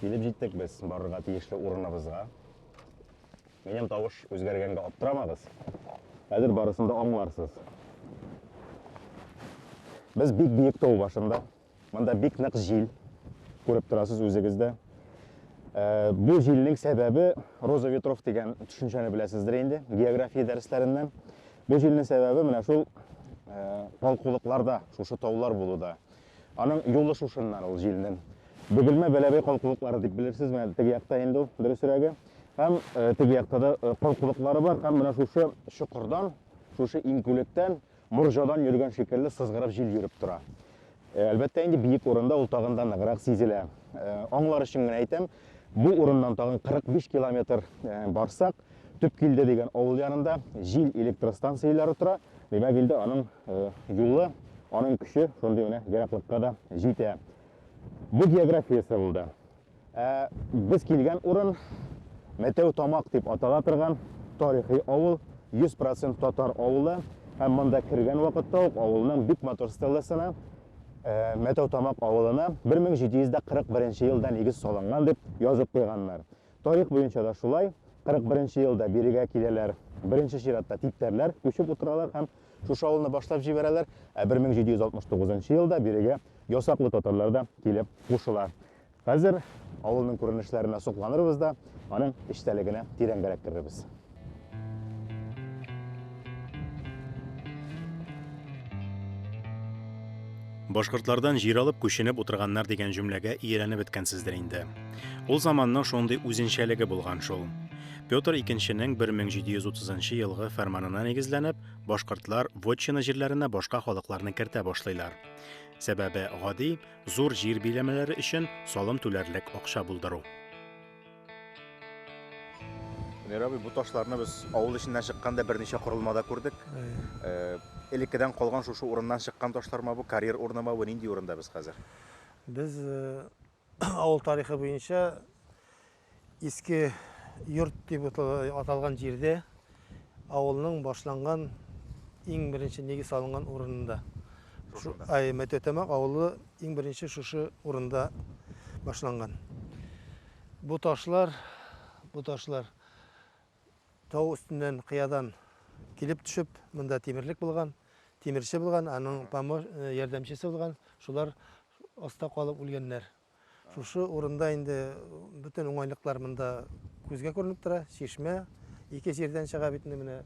Килеп җиттек без барырга тиешле урыныбызга. Минем тавыш үзгәргәнгә аптырамагыз. Хәзер барысын да аңларсыз. Без бик биек тау башында. Монда бик нык җил. Күреп торасыз үзегез дә. Э, бу җилнең сәбәбе роза ветров дигән төшенчәне беләсездер инде география дәресләреннән. Бу җилнең сәбәбе менә шул э, балкулыкларда, шушы таулар булуда. Аның юлы шушыннан ул җилнең. Бөгелмә Бәләбәй калкулыклары дип белерсезме, әле теге якта инде ул, дөресрәге. Һәм э, теге якта да э, калкулыклары бар, һәм менә шушы чокырдан, шушы иңкүлектән, морҗадан йөргән шикелле сызгырып җил йөреп тора. Э, әлбәттә инде биек урында ул тагын да ныграк сизелә. Э, аңлар өчен генә әйтәм, Бу урыннан тагын 45 километр барсак, Төпкилде дигән авыл янында җил электростанцияләре тора. Димәк, инде аның юлы, аның көче шундый менә ераклыкка да җитә. Бу географиясе булды. Ә без килгән урын Мәтәү Тамак дип атала торган тарихи авыл, 100% татар авылы. Һәм монда кергән вакытта ук авылның бик матур стелласына Мәтәүтамак авылына 1741 елда нигез салынган дип язып куйганнар. Тарих буенча да шулай, 41 елда бирегә киләләр, беренче чиратта типтәрләр күчеп утыралар һәм шушы авылны башлап җибәрәләр, ә 1769 елда бирегә ясаклы татарлар да килеп кушыла. Хәзер авылның күренешләренә сокланырбыз да, аның эчтәлегенә тирәнгәрәк керербез. Башкортлардан җир алып күченеп утырганнар дигән җөмләгә ияләнеп беткәнсездер инде. Ул заманның шундый үзенчәлеге булган шул. Петр II-нең 1730 елгы фәрманына нигезләнеп, башкортлар вотчина җирләренә башка халыкларны кертә башлыйлар. Сәбәбе гади, Зур җир биләмәләре өчен салым түләрлек акча булдыру. Мирабый, бу ташларны без авыл эченнән чыкканда берничә корылмада күрдек. Э, Элеккедән калган шушы урыннан чыккан ташларма бу, карьер урынымы бу, нинди урында без хәзер? Без э, авыл тарихы буенча Иске йорт дип аталган җирдә, авылның башланган иң беренче нигез салынган урынында. Ай, Мәтәтәмәк авылы иң беренче шушы урында башланган. Бу ташлар, бу ташлар тау өстеннән, кыядан килеп төшеп, монда тимерлек булган, тимерче булган, аның помо, э, ярдәмчесе булган, шулар аста калып үлгәннәр. Шушы урында инде бөтен уңайлыклар монда күзгә күренеп тора. Чишмә ике җирдән чыга бит инде менә.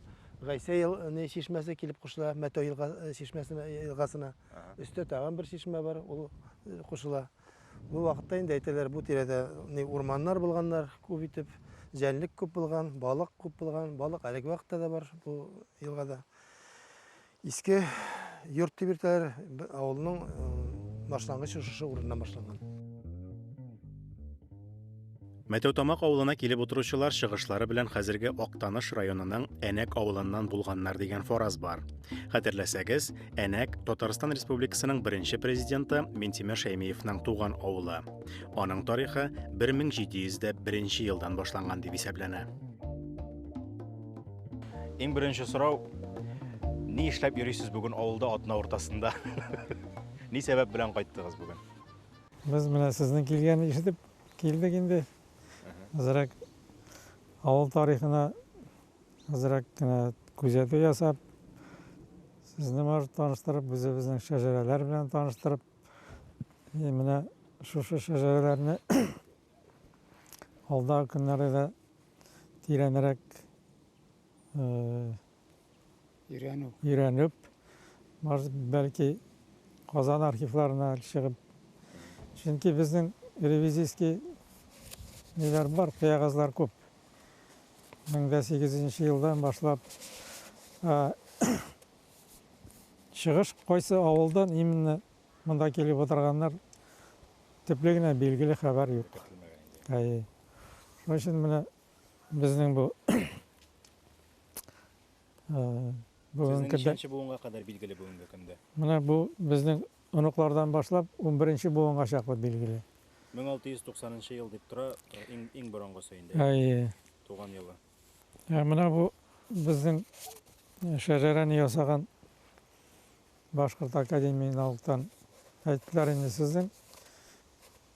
Гайсә ел не чишмәсе килеп кушыла Мәтәү елга э, чишмәсенә э, елгасына. Өстә тагын бер чишмә бар, ул э, кушыла. Бу вакытта инде әйтәләр, бу тирәдә не урманнар булганнар күп итеп, җәнлек күп булган, балык күп булган, балык әлеге вакытта да бар бу елгада. Иске йорт дип йөртәләр, авылның башлангычы шушы урыннан башланган. Мәтәүтамак авылына килеп утыручылар чыгышлары белән хәзерге Актаныш районының Әнәк авылыннан булганнар дигән фараз бар. Хәтерләсәгез, Әнәк Татарстан Республикасының беренче президенты Минтимер Шәймиевның туган авылы. Аның тарихы 1701 елдан башланган дип исәпләнә. Иң беренче сорау, ни эшләп йөрисез бүген авылда атна уртасында? Ни сәбәп белән кайттыгыз бүген? Без менә сезнең килгән ишетеп килдек инде. Азрак авыл тарихына азрак кенә күзәтү ясап, сезне может таныштырып, үзебезнең шәҗәрәләр белән таныштырып, и менә шушы шәҗәрәләрне Алдагы көннәрдә дә тирәнрәк өйрәнү. Өйрәнеп, бәлки Казан архивларына чыгып. Чөнки безнең ревизийский ниләр бар, кыягазлар күп. 1008 елдан башлап чыгыш кайсы авылдан именно Монда килеп утырганнар төпле генә билгеле хәбәр юк. Әйе. Шуның өчен менә безнең бу Сезнең ничәнче буынга кадәр билгеле бүгенге көндә? Менә бу безнең оныклардан башлап 11-нче буынга чаклы билгеле. 1690 ел дип тора, иң иң борынгысы инде. Әйе. Туган елы. Ә менә бу безнең шәҗәрәне ясаган Башкорт академия налогтан әйттеләр инде сезнең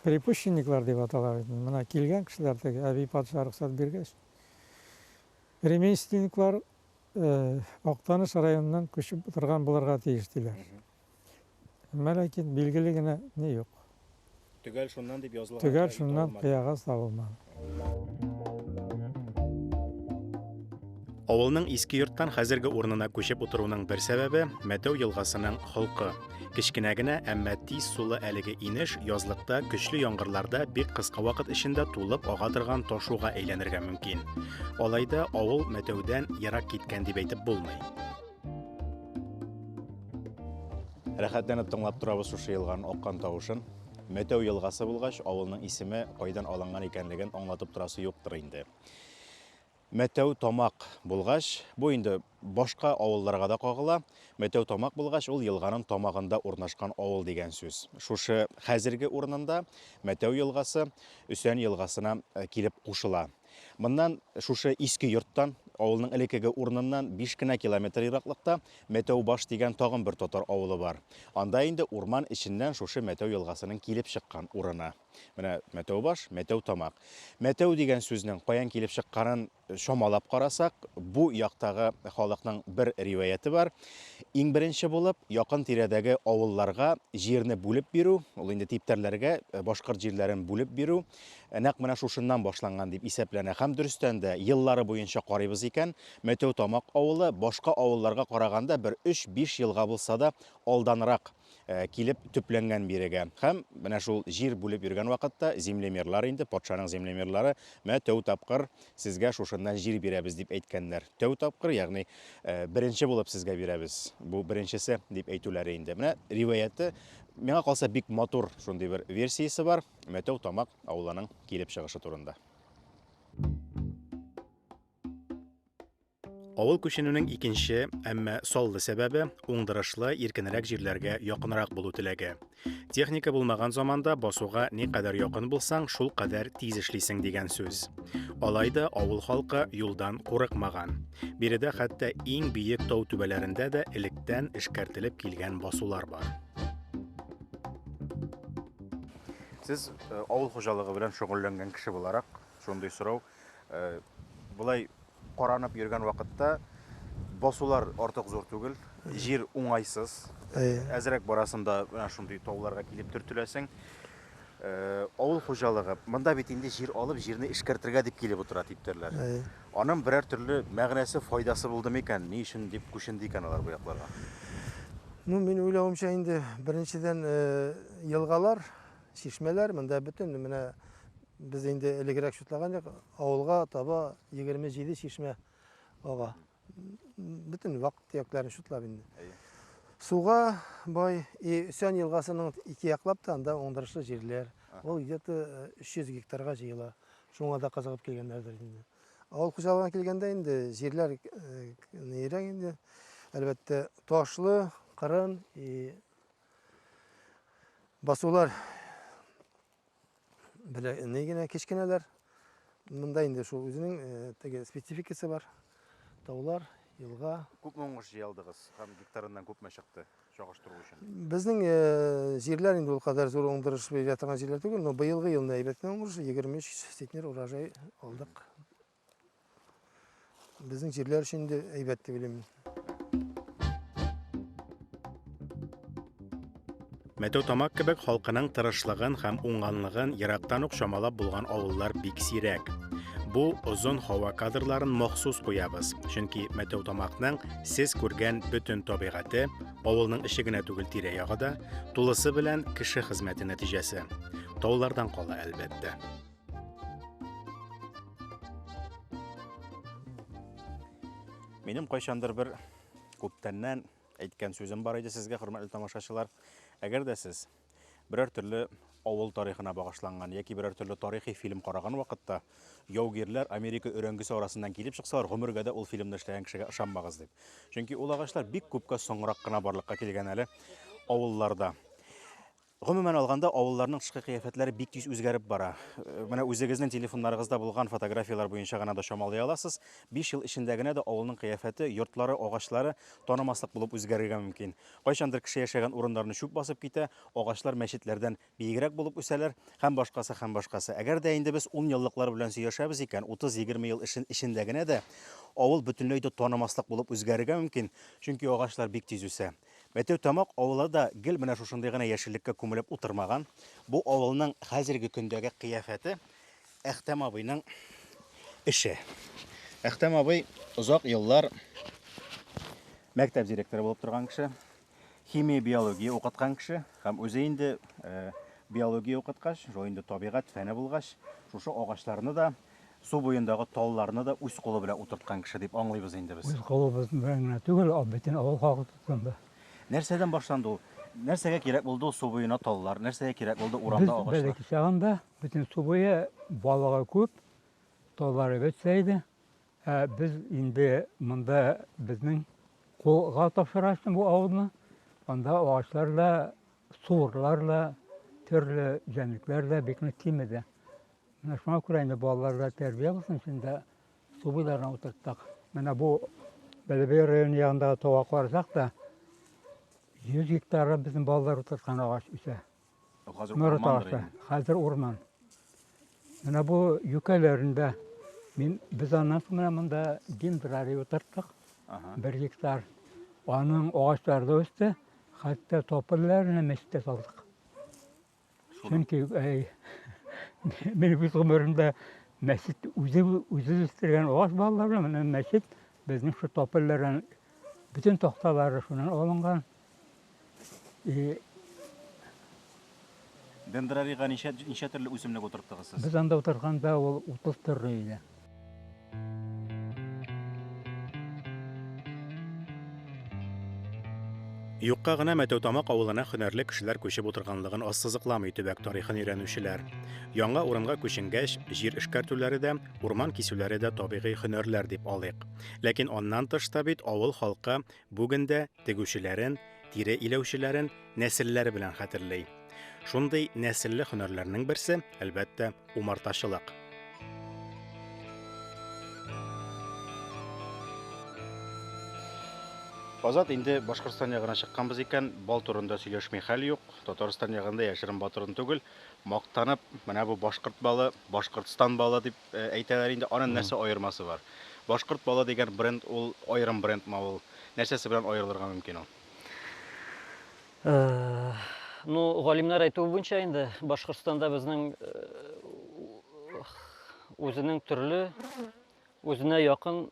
припущенниклар дип атала бит менә килгән кешеләр теге әби патша рөхсәт биргәч ремейственниклар актаныш районыннан күчеп утырган булырга тиеш диләр әмма ләкин билгеле генә ни юк Төгәл шуннан дип язылган Төгәл кыягаз шуннан табылмады. кыягаз табылмады. Авылның иске йорттан хәзерге урынына күчеп утыруның бер сәбәбе, Мәтәү елгасының холкы. Кечкенә генә, әмма тиз сулы әлеге инеш язлыкта, көчле яңгырларда бик кыска вакыт эчендә тулып ага торган ташуга әйләнергә мөмкин. Алай да авыл Мәтәүдән ерак киткән дип әйтеп булмый. Рәхәтләнеп тыңлап торабыз шушы елган аккан тавышын. Мәтәү елгасы булгач, авылның исеме кайдан алынган икәнлеген аңлатып торасы юктыр инде. Мәтәү тамак булгач, бу инде башка авылларга да кагыла. Мәтәү тамак булгач, ул елганың тамагында урнашкан авыл дигән сүз. Шушы хәзерге урынында Мәтәү елгасы Өсән елгасына э, килеп кушыла. Моннан, шушы иске йорттан, авылның элеккеге урыныннан биш кенә километр ераклыкта Мәтәүбаш дигән тагын бер татар авылы бар. Анда инде урман эченнән шушы Мәтәү елгасының килеп чыккан урыны. Менә Мәтәүбаш, Мәтәүтамак. Мәтәү дигән сүзнең каян килеп чыкканын чамалап карасак, бу яктагы халыкның бер риваяте бар. Иң беренче булып, якын тирәдәге авылларга җирне бүлеп бирү, ул инде типтәрләргә башкорт җирләрен бүлеп бирү, нәкъ менә шушыннан башланган дип исәпләнә. Һәм дөрестән дә, еллары буенча карыйбыз икән, Мәтәүтамак авылы башка авылларга караганда бер 3-5 елга булса да алданрак килеп төпләнгән бирегә. Һәм менә шул җир бүлеп йөргән вакытта землемерлар инде, патшаның землемерлары, мә тәү тапкыр сезгә шушыннан җир бирәбез дип әйткәннәр. Тәү тапкыр, ягъни беренче булып сезгә бирәбез. Бу беренчесе дип әйтүләре инде. Менә риваяте, миңа калса бик матур шундый бер версиясе бар. Мәтәү Тамак авылының килеп чыгышы турында. Авыл күченүнең икенче, әмма саллы сәбәбе, уңдырышлы, иркенрәк җирләргә якынрак булу теләге. Техника булмаган заманда басуга ни кадәр якын булсаң, шул кадәр тиз эшлисең дигән сүз. Алай да авыл халкы юлдан курыкмаган. Биредә хәтта иң биек тау түбәләрендә дә электән эшкәртелеп килгән басулар бар. Сез э, авыл хуҗалыгы белән шөгыльләнгән кеше буларак, шундый сорау, э, болай каранып йөргән вакытта басулар артык зур түгел, җир уңайсыз, әзрәк барасында менә шундый тауларга килеп төртеләсең. Э, авыл хуҗалыгы, монда бит инде җир алып, җирне эшкәртергә дип килеп утыра типтерләр. Анын берәр төрле мәгънәсе, файдасы булды микән? Ни өчен дип күченде икән алар бу якларга? Ну, мин уйлавымча инде, беренчедән, елгалар, чишмәләр, монда бөтен менә без инде элегрәк шутлаган идек, авылга таба 27 чишмә ага. Бөтен вак төякләрен шутлап инде. Әйе. Суга бай, и Өсән елгасының ике яклап та анда уңдырышлы җирләр. Ул где-то 300 гектарга җыела. Шуңа да кызыгып килгәннәрдер инде. Авыл хуҗалыгына килгәндә инде җирләр нирәк инде. Әлбәттә, ташлы, кырын и басулар белә ни генә кечкенәләр. Монда инде шул үзенең теге спецификасы бар. Таулар, елга. Күпме уңыш җыялдыгыз һәм гектарыннан күпме чыкты? чагыштыру өчен? Безнең э, җирләр инде ул кадәр зур уңдырыш бирә торган җирләр түгел, но быелгы елны әйбәт кенә уңдырыш, 23 центнер урожай алдык. Безнең җирләр өчен инде әйбәт дип уйлыйм. Мәтәү Тамак кебек халкының тырышлыгын һәм уңганлыгын ерактан ук чамалап булган авыллар бик сирәк. Бу озын һава кадрларын махсус куябыз, чөнки Мәтәү Тамакның Сез күргән бөтен табигате, авылның эче генә түгел тирә-ягы да, тулысы белән кеше хезмәте нәтиҗәсе. Таулардан кала, әлбәттә. Минем кайчандыр бер күптәннән әйткән сүзем бар иде сезгә, хөрмәтле тамашачылар. Әгәр дә сез берәр төрле авыл тарихына багышланган яки берәр төрле тарихи фильм караган вакытта яугирләр Америка өрәңгесе арасыннан килеп чыксалар, гомергә дә ул фильмны эшләгән кешегә ышанмагыз дип. Чөнки ул агачлар бик күпкә соңрак кына барлыкка килгән әле авылларда. Гомумән алганда, авылларның тышкы кыяфәтләре бик тиз үзгәреп бара. Э, менә үзегезнең телефоннарыгызда булган фотографияләр буенча гына да чамалый аласыз. 5 ел эчендә генә дә авылның кыяфәте, йортлары, агачлары танымаслык булып үзгәрергә мөмкин. Кайчандыр кеше яшәгән урыннарны чүп басып китә, агачлар мәчетләрдән биегрәк булып үсәләр, һәм башкасы, һәм башкасы. Әгәр дә инде без унъеллыклар белән сөйләшәбез икән, утыз-егерме ел эчендә генә дә авыл бөтенләй дә танымаслык булып үзгәрергә мөмкин, чөнки агачлар бик тиз үсә. Мәтәүтамак авылы да гел менә шушындый гына яшеллеккә күмелеп утырмаган. Бу авылның хәзерге көндәге кыяфәте Әхтәм абыйның эше. Әхтәм абый озак еллар мәктәп директоры булып торган кеше, химия, биология укыткан кеше һәм үзе инде э, биология укыткач, шул инде табигать фәне булгач, шушы агачларны да, су буендагы талларны да үз кулы белән утырткан кеше дип аңлыйбыз инде без. Үз колыбыз белән генә түгел, а бөтен авыл халкы тотынды. Нәрсәдән башланды ул? Нәрсәгә кирәк булды ул су буена таллар? Нәрсәгә кирәк булды Без урамда агачлар? бәләкәй чагында Бөтен су буе балыгы күп, торлары бөтсә иде. Ә без инде монда безнең кулга тапшырасың бу авылны. Анда агачлар да, суырлар да, төрле җәнлекләр дә бик нык кимеде. Менә шуңа күрә инде балалар да тәрбия булсын өчен дә су буйларына утырттык. Менә бу Бәләбәй районы ягындагы тауга карасак та, 100 гектарга безнең балалар утырткан агач үсә. Мөрі тағысы, қазір орман. Мына бу юкәләрендә мин без аннан соң менә монда дендрарий утырттык. Бер гектар. Аның агачлары да үсте. Хәтта топылларына мәчеткә салдык. Чөнки әй мин үз гомеремдә мәчет үзе үзе үстергән агач балалары менә мәчет безнең шу топыллардан бөтен такталары шуннан алынган. Дендрарийга ничә ничә төрле үсемлек утырттыгыз сез? Без анда утырганда ул 30 төрле иде. Юкка гына Мәтәүтамак авылына һөнәрле кешеләр күчеп утырганлыгын ассызыкламый төбәк тарихын өйрәнүчеләр. Яңа урынга күченгәч, җир эшкәртүләре дә, урман кисүләре дә табигый һөнәрләр дип алыйк. Ләкин аннан тыш та бит авыл халкы Бүген дә тегүчеләрен, тире иләүчеләрен нәселләре белән хәтерли. Шундый нәселле һөнәрләрнең берсе, әлбәттә, умартачылык. Азат инде Башкортстан ягына чыкканбыз икән, бал турында сөйләшми хәл юк. Татарстан ягында яшерен батырын түгел, мактанып, менә бу башкорт балы, Башкортстан балы дип Әйтәләр инде, анын нәрсә аермасы бар? Башкорт балы дигән бренд ул аерым брендмы ул? Нәрсәсе белән аерылырга мөмкин ул? Ну, галимнәр әйтүе буенча инде, Башкортстанда безнең үзенең төрле, үзенә якын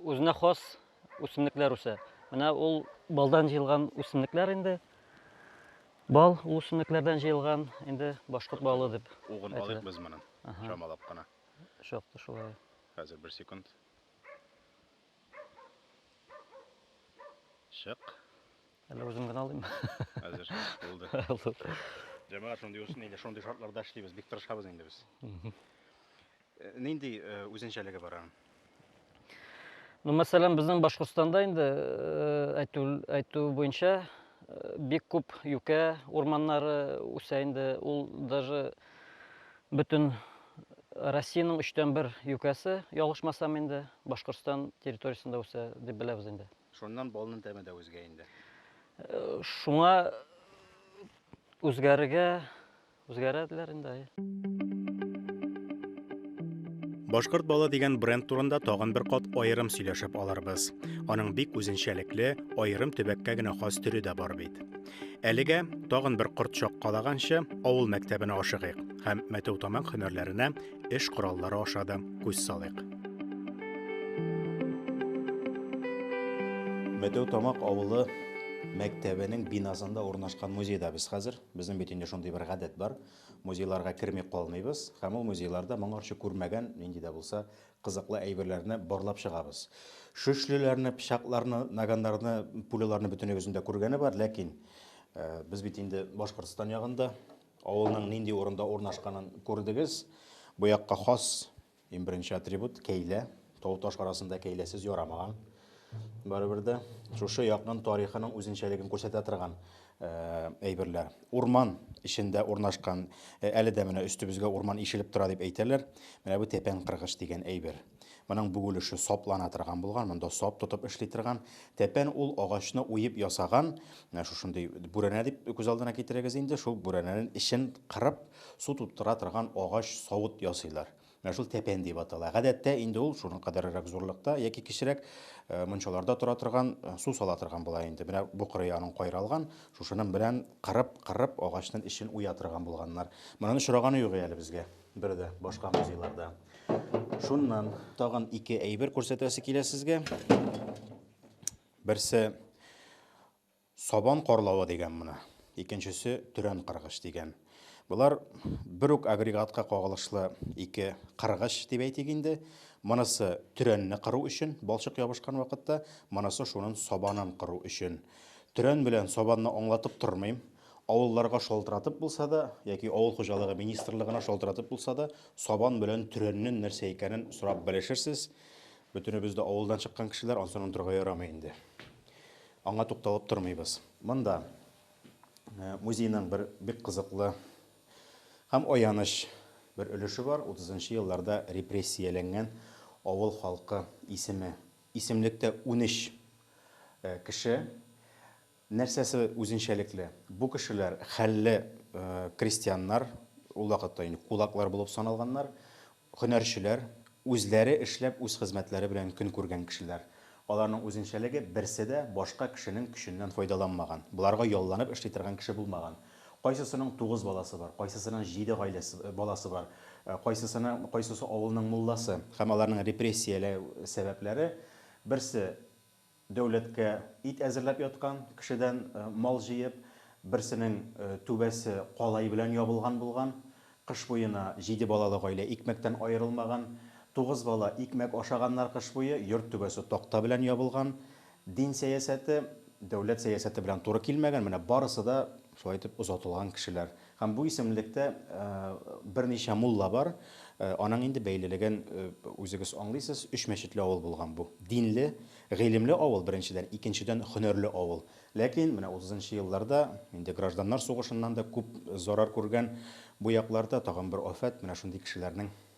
үзенә хас үсемлекләр үсә. Менә ул балдан җыелган үсемлекләр инде. Бал ул үсемлекләрдән җыелган, инде башкорт балы дип. Угын алыйк без моны. Чамалап кына. Шактый шулай. Хәзер бер секунд. Чык. Әле үзем генә алыйм. Хәзер булды. Җәмәгать шундый үсен инде, шундый шартларда эшлибез, бик тырышабыз инде без. Нинди үзенчәлеге бар аның? Ну, мәсәлән, безнең Башкортстанда инде әйтү, әйтү буенча бик күп юкә урманнары үсә инде. Ул даже бөтен Россиянең өчтән бер юкәсе, ялгышмасам инде, Башкортстан территориясендә үсә дип беләбез инде. Шуннан балның тәме дә үзгә инде. Шуңа үзгәрергә Үзгәрәделәр инде, әйе. Башкорт балы дигән бренд турында тагын бер кат аерым сөйләшеп алырбыз. Аның бик үзенчәлекле, аерым төбәккә генә хас төре дә бар бит. Әлегә тагын бер корт чаккалаганчы авыл мәктәбенә ашыгыйк һәм мәтәү тамак һөнәрләренә эш кораллары аша да күз салыйк. Мәтәү тамак авылы мәктәбенең бинасында урнашкан музейда без хәзер. Безнең бит инде шундый бер гадәт бар, музейларга керми калмыйбыз һәм ул музейларда моңарчы күрмәгән нинди дә булса кызыклы әйберләрне барлап чыгабыз. Шөшлеләрне, пычакларны, наганнарны, пуляларны бөтенебезнең дә күргәне бар, ләкин без бит инде Башкортстан ягында, авылның нинди урында урнашканын күрдегез. Бу якка хас Иң беренче атрибут, кәйлә. Тау-таш арасында кәйләсез ярамаган. Барыбер дә шушы якның тарихының үзенчәлеген күрсәтә торган әйберләр. Урман эчендә урнашкан, әле дә менә өстебезгә урман ишелеп тора дип әйтәләр. Менә бу тәпән кыргыч дигән әйбер. Моның бүгелеше саплана торган булган, монда сап тотып эшли торган. Тәпән ул агачны уеп ясаган, менә шушындый бүрәнә дип күз алдына китерегез инде, шул бүрәнәнең эчен кырып, Су тоттыра торган агач савыт ясыйлар. Менә шул тәпән дип атала. Гадәттә инде ул шуның кадәрерәк зурлыкта яки кечерәк мунчаларда тора торган, су сала торган була инде. Менә бу кырые аның кайралган, шушының белән кырып-кырып агачның эчен уя торган булганнар. Моның очраганы юк әле безгә бер дә башка музейларда. Шуннан тагын ике әйбер күрсәтәсе килә сезгә. Берсе Сабан карлавы дигән моны. Икенчесе төрән кыргыч дигән. Болар бер үк агрегатка кагылышлы ике кыргыч дип әйтик инде. Монысы төрәнне кыру өчен, балчык ябышкан вакытта, монысы шунын сабанын кыру өчен. Төрән белән сабанны аңлатып тормыйм. Авылларга шалтыратып булса да, яки авыл хуҗалыгы министрлыгына шалтыратып булса да, сабан белән төрәннен нәрсә икәнен сорап белешерсез. Бөтенебез дә авылдан чыккан кешеләр, ансын онтырга ярамый инде. Аңа тукталып тормыйбыз. Монда музейның бер бик кызыклы һәм аяныч бер өлеше бар, утызынчы елларда репрессияләнгән авыл халкы исеме. Исемлектә унөч кеше. Нәрсәсе үзенчәлекле? Бу кешеләр хәлле крестьяннар, ул вакытта инде кулаклар булып саналганнар. Һөнәрчеләр, үзләре эшләп үз хезмәтләре белән көн күргән кешеләр. Аларның үзенчәлеге, берсе дә башка кешенең көченнән файдаланмаган, боларга ялланып эшли торган кеше булмаган. Кайсысының тугыз баласы бар, кайсысының җиде гаиләсе, баласы бар, кайсысына, кайсысы авылның мулласы. Һәм аларның репрессияләү сәбәпләре, берсе, Дәүләткә ит әзерләп яткан, кешедән мал җыеп, берсенең түбәсе калай белән ябылган булган. Кыш буена җиде балалы гаилә икмәктән аерылмаган. Тугыз бала икмәк ашаганнар кыш буе, йорт түбәсе такта белән ябылган. Дин сәясәте дәүләт сәясәте белән туры килмәгән, менә барысы да шулай итеп озатылган кешеләр. Һәм бу исемлектә берничә мулла бар, аның инде бәйлелеген үзегез аңлыйсыз, өч мәчетле авыл булган бу. Динле, гыйлемле авыл, беренчедән, икенчедән, хөнәрле авыл. Ләкин менә утызынчы елларда, инде гражданнар сугышыннан да күп зарар күргән бу якларда тагын бер афәт, менә шундый кешеләрнең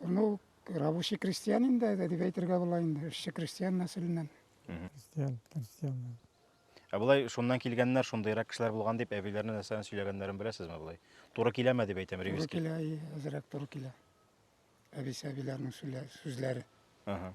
Ну, рабочий крестьян инде, дип әйтергә була инде, эшче крестьян нәселеннән. Крестьян, крестьян. Ә болай шуннан килгәннәр, шундыйрак кешеләр булган дип әбиләренә нәрсәне сөйләгәннәрен беләсезме болай? Туры киләме дип әйтәм, Туры Ревиски. килә, и, әзрәк туры килә. Әбисә-әбиләрнең сүлә- сүзләре. Ага.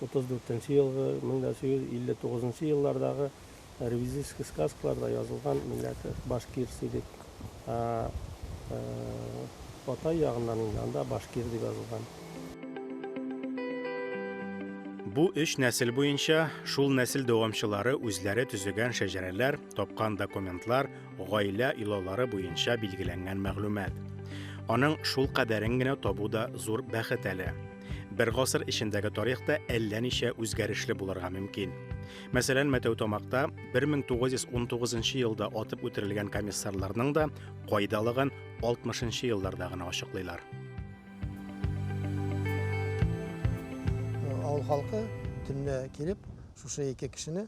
34-нче елгы, 1859 нчы еллардагы ревизический сказкаларда язылган милләте башкирс идек. Ә Ботай ягыннан инде анда башкир дип язылган. Бу өч нәсел буенча шул нәсел дәвамчылары үзләре төзегән шәҗәрәләр, тапкан документлар, гаилә илаулары буенча билгеләнгән мәгълүмат. Аның шул кадәрен генә табу да зур бәхет әле. Бер гасыр эчендәге тарих та әллә ничә үзгәрешле булырга мөмкин. Мәсәлән, Мәтәүтамакта 1919 елда атып үтерелгән комиссарларның да кайдалыгын 60 елларда гына ачыклыйлар. Авыл халкы төнлә килеп, шушы ике кешене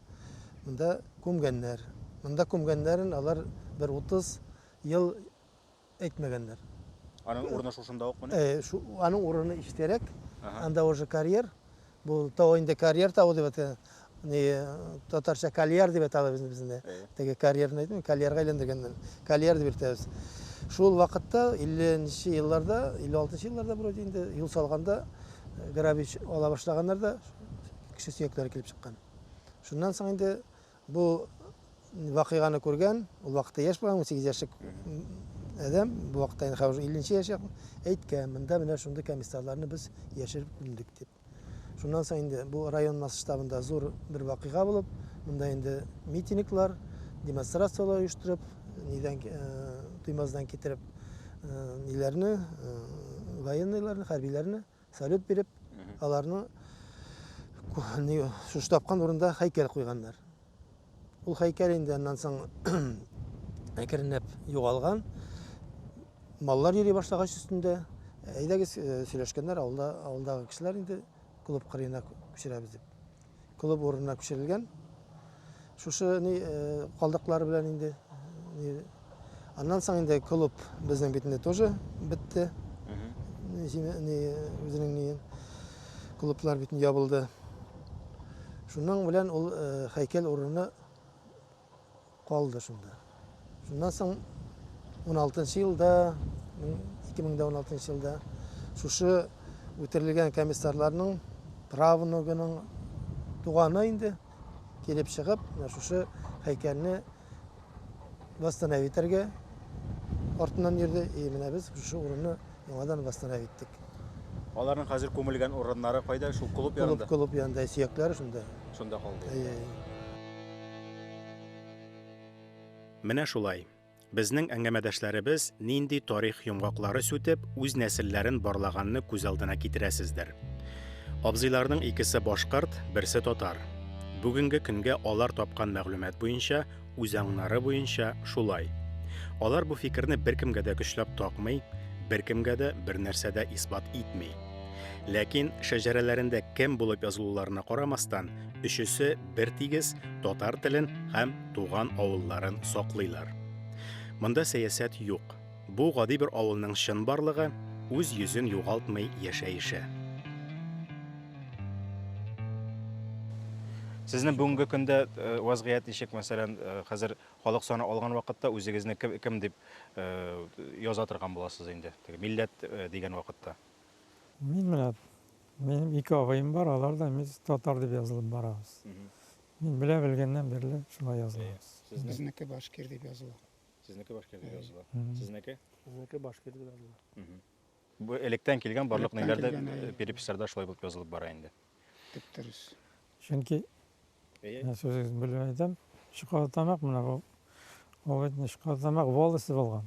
монда күмгәннәр. Монда күмгәннәрен алар бер 30 ел әйтмәгәннәр. Аның урыны шушында ук мени? Э, шу, аның урыны иштәрәк. Ага. Анда уже карьер. Бу тау инде карьер тавы дип әйтә. Ни татарча карьер дип әйтә без безне. Теге карьерны әйтмим, карьерга әйләндергәннәр. Карьер дип әйтәбез. Шул вакытта 50 нче елларда, 56 нчы елларда вроде инде юл салганда э, грабич ала башлаганнар да кеше сөякләре килеп чыккан. Шуннан соң инде Бу вакыйганы күргән, ул вакытта яшь булган, 18 яшьлек адәм, бу вакытта инде хәзер 50 нче яшь якын, әйткән, монда менә шундый комиссарларны без яшереп күмдек дип. Шуннан соң инде бу район масштабында зур бер вакыйга булып, монда инде митинглар, демонстрацияләр оештырып, нидән э, туймаздан китереп э, ниләрне, э, военныйларны, хәрбиләрне Салют биреп, аларның шушы тапкан урында хәйкәл куйганнар. Ул хәйкәл инде аннан соң әкренләп югалган. Маллар йөри башлагач өстендә, әйдәгез сөйләшкәннәр, авылда, авылдагы кешеләр инде клуб кырыена күчерәбез дип. клуб урынына күчерелгән. Шушы ни калдыклары белән инде аннан соң инде клуб безнең бит инде тоже бетте. Ни үзенең ни клублар бит ябылды. Шуның белән ул һәйкәл урыны Калды шунда. Шуннан соң 16 елда, 2016 елда шушы үтерелгән комиссарларның правнугының туганы инде килеп чыгып, менә шушы һәйкәлне восстановить итәргә артыннан йөрде. И менә без шушы урынны Яңадан восстановить иттек. Аларның хәзер күмелгән урыннары кайда? Шул клуб Клуб, янында. клуб янында сөякләре шунда. Шунда калды. Әйе, әйе. Менә шулай. Безнең әңгәмәдәшләребез нинди тарих йомгаклары сүтеп, үз нәселләрен барлаганны күз алдына китерәсездер. Абзыйларның икесе башкорт, берсе татар. Бүгенге көнгә алар тапкан мәгълүмат буенча, Үзаңнары буенча шулай. Алар бу фикерне беркемгә дә көчләп такмый, беркемгә дә бернәрсә дә исбат итми. Ләкин шәҗәрәләрендә кем булып язылуларына карамастан, өчесе бер тигез татар телен һәм туган авылларын саклыйлар. Монда сәясәт юк. Бу гади бер авылның чын барлыгы, үз йөзен югалтмый яшәеше. Сезнең бүгенге көндә э, вазгыять ничек? Мәсәлән, э, хәзер халык саны алган вакытта үзегезне кем, кем дип э, яза торган буласыз инде? Теге милләт э, дигән вакытта. Мин менә минем ике агыем бар, алар да без татар дип язылып барабыз. Мин белә белгәннән бирле шулай язылабыз. Безнеке башкир дип языла. Сезнеке башкирдә языла. Сезнеке? Сезнеке башкирдә языла. Бу электән килгән барлык ниләрдә э, переписларда шулай булып язылып бара инде. Тип дөрес. Чөнки мин сүзегез белән әйтәм, шоколадтамак менә бу. Ул бит шоколадтамак волости булган.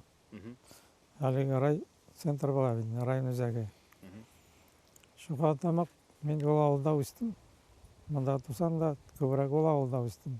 Әлеге рай центр була бит, район үзәге. Шоколадтамак мин ул авылда үстем. Монда тусам да күбрәк ул авылда үстем.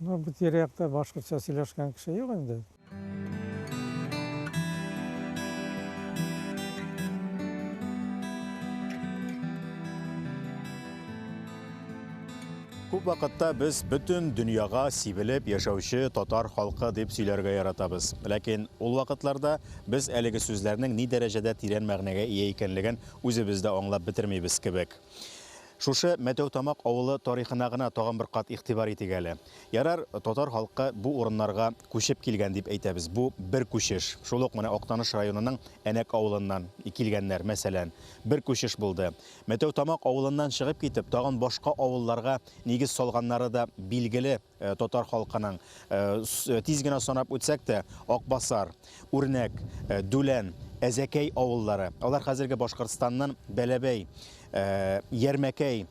Ну бу тирә-якта башкортча сөйләшкән кеше юк инде. Күп вакытта без бөтен дөньяга сибелеп яшәүче татар халкы дип сөйләргә яратабыз. Ләкин ул вакытларда без әлеге сүзләрнең ни дәрәҗәдә тирән мәгънәгә ия икәнлеген үзебез дә аңлап бетермибез кебек. Шушы Мәтәүтамак авылы тарихына гына тагын бер кат игътибар итик әле. Ярар, татар халкы бу урыннарга күчеп килгән дип әйтәбез, бу бер күчеш. Шул ук менә Актаныш районының Әнәк авылыннан килгәннәр, мәсәлән, бер күчеш булды. Мәтәүтамак авылыннан чыгып китеп, тагын башка авылларга нигез салганнары да билгеле. Э, татар халкының э, э, тиз генә санап үтсәк тә акбасар үрнәк дүлән әзәкәй авыллары алар хәзерге башкортстанның бәләбәй ярмәкәй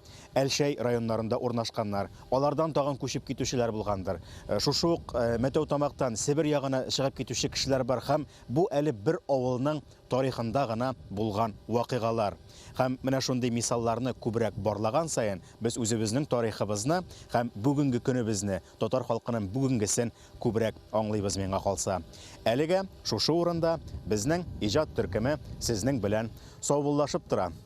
әлшәй районнарында урнашканнар алардан тагын күчеп китүчеләр булгандыр шушы ук мәтәү тамактан себер ягына чыгып китүче кешеләр бар һәм бу әле бер авылның тарихында гына булган вакыйгалар. Һәм менә шундый мисалларны күбрәк барлаган саен, без үзебезнең тарихыбызны һәм бүгенге көнебезне, татар халкының бүгенгесен күбрәк аңлыйбыз, миңа калса. Әлегә шушы урында безнең иҗат төркеме сезнең белән саубуллашып тора.